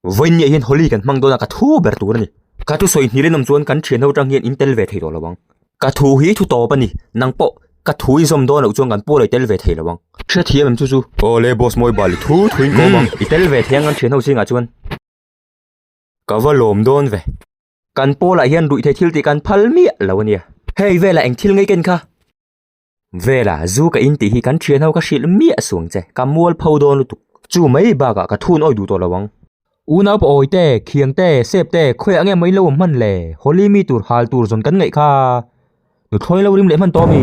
Vawiin ni ah hian Holi kan hmang dawn a ka thu ber tur a ni. Ka thu sawi hnihlen awm chuan kan thian ho chang hian in tel ve thei tawh lovang. Ka thu hi thu tawp a ni, nang pawh ka thu inzawm dawn loh chuan kan pu a lo i tel ve thei lovang. Hrethiam em chu chu. Aw le boss mawi bal i thu thuin ko vang. I tel ve thei ang kan thian ho zingah chuan. Ka va lawm dawn ve. Kan Paula hian ruih thei thil tih kan phal miah lo a nia. Hei velah eng thil ngeiken kha. Vela, zu ka intih hi kan thianho ka hrilh miah suang che. Ka mual pho dawn lutuk. Chu mai bakah ka thun awih duh tawh lo ang. U Naupa awi te, Khiang te, Sep te, khawiah nge mawi in lo awm hman le? Holi mi tur hal tur zawn kan ngaih kha. Nu thlawi lo rim leh hman tawh ami?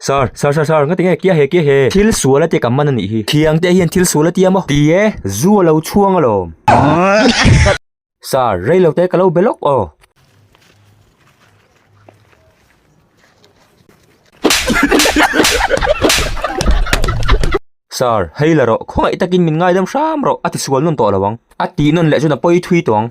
Sir, sir, sir, sir, ngatinge kia he kia he, thil sual atia kan man a nih hi, thiang te hian thil sual atia maw? Ti e, zu a lo chhuang alawm. Sir, rei lo te ka lo be lawk aw. Sir, hei la rawh, khawngaih takin min ngaidam hram rawh, a ti sual nawn tawh lo ang. A tih nawn leh chuan a pawi thui tawh ang.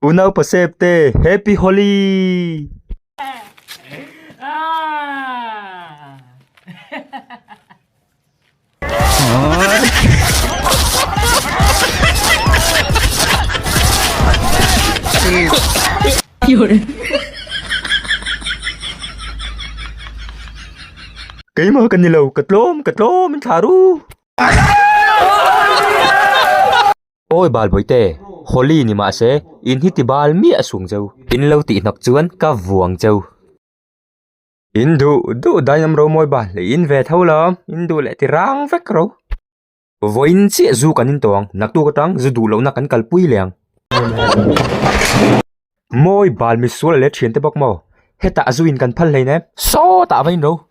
U nau pasep te happy holi. Keima kan ni lo ka tlawm ka tlawm in thla ru. Awi Balbawi'te, Holi ni mahse, in hi ti bal miah a sung cheu. In lo tih hnak chuan ka vuang cheu. In duh duh daih lam ro mawi bal, in ve tho lo, in duh leh ti rang vek ro. Vawiin chiah zu kan intaw ang, naktuk atang zu duh lohna kan kal pui leh ang. Mawi bal misual leh thiante bawk maw? Hetah zu in kan phal hlein e, sawtah vain ro.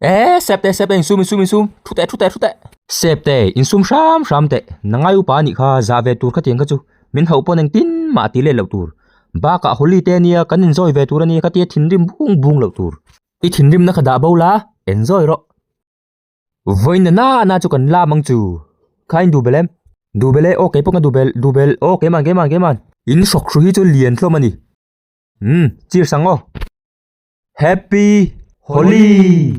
Eee Sep teh Sep teh insum insum insum thu teh thu teh thu teh. Sep teh insum hram hram teh nangai upa anih kha zah ve tur ka tiang kha chu min hauh pawn engtin mah a ti let loh tur bakah holi te ania kan enjoy ve tur ania ka tia thinrim bung bung loh tur i thinrim na kha dah bo la enjoy rawh vawiin nana nana chu kan la mang chu kha induh belh em duh belh e ok kei pawh ka duh belh duh belh ok kei man kei man kei man in hrawk hru hi chu lian hlawm ani umm chirsangaw. Happy Holi.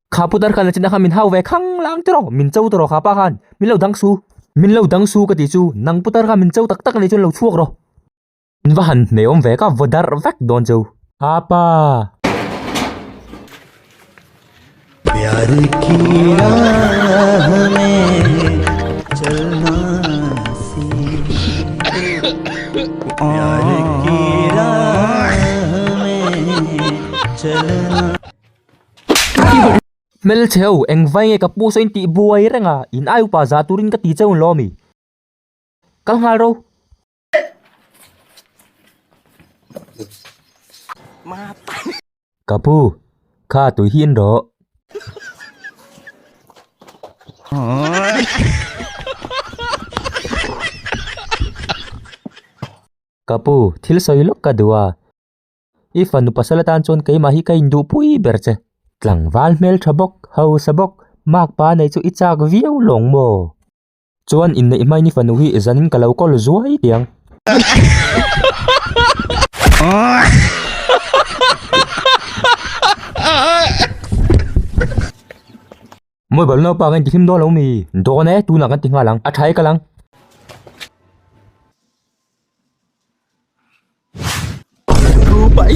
Kha putar khan la china khan min hau ve khang lang tiraw min chau tiraw kha pa khan min lo dang su min lo dang su ka ti chu nang putar khan min chau tak tak nei chu lo chhuak ro min va han hmei om ve ka vodar vek don chu apa Hmel che ho, engvai nge ka pu sawiin tih buai reng a, in ai upa za turin ka ti che hun lawm i. Kal nghal ro. Ka pu, kha tui hi in rawh. Ka pu, thil sawi lawk ka duh a, i fanu pasal atan chuan keimah hi ka induh pui ber che. Tlangval hmel tha bawk, hausa bawk, makpa nei chu i chak viau lawng maw? Chuan in neih hmai ni fanu hi zan in ka lo call zuai tih ang. Mobile naupa kan ti hlim dawn lo mi? Dawn e, tunah kan ti nghal ang. A thaika lang. Rupai.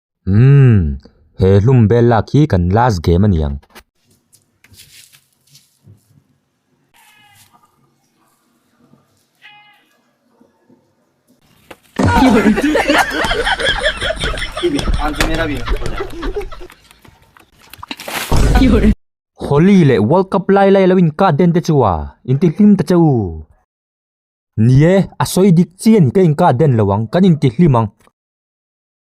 Umm, he hlum bel lak hi kan last game a ni ang. Holy leh world cup lai lai lo in cut den te chu a, in ti hlim ta che u. Ni e, a sawi dik chian ka in cut den lo ang, kan in ti hlim ang.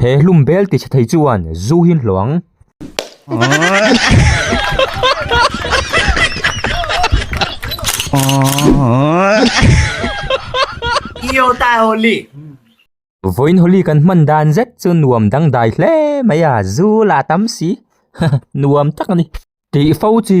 He hlum bel ti chhe thei chuan zu hi hlawh ang. Vawiin holi kan hman dan zet chu nuam dangdai hle mai a, zu lah tam si haha nuam tak a ni tih fo chi.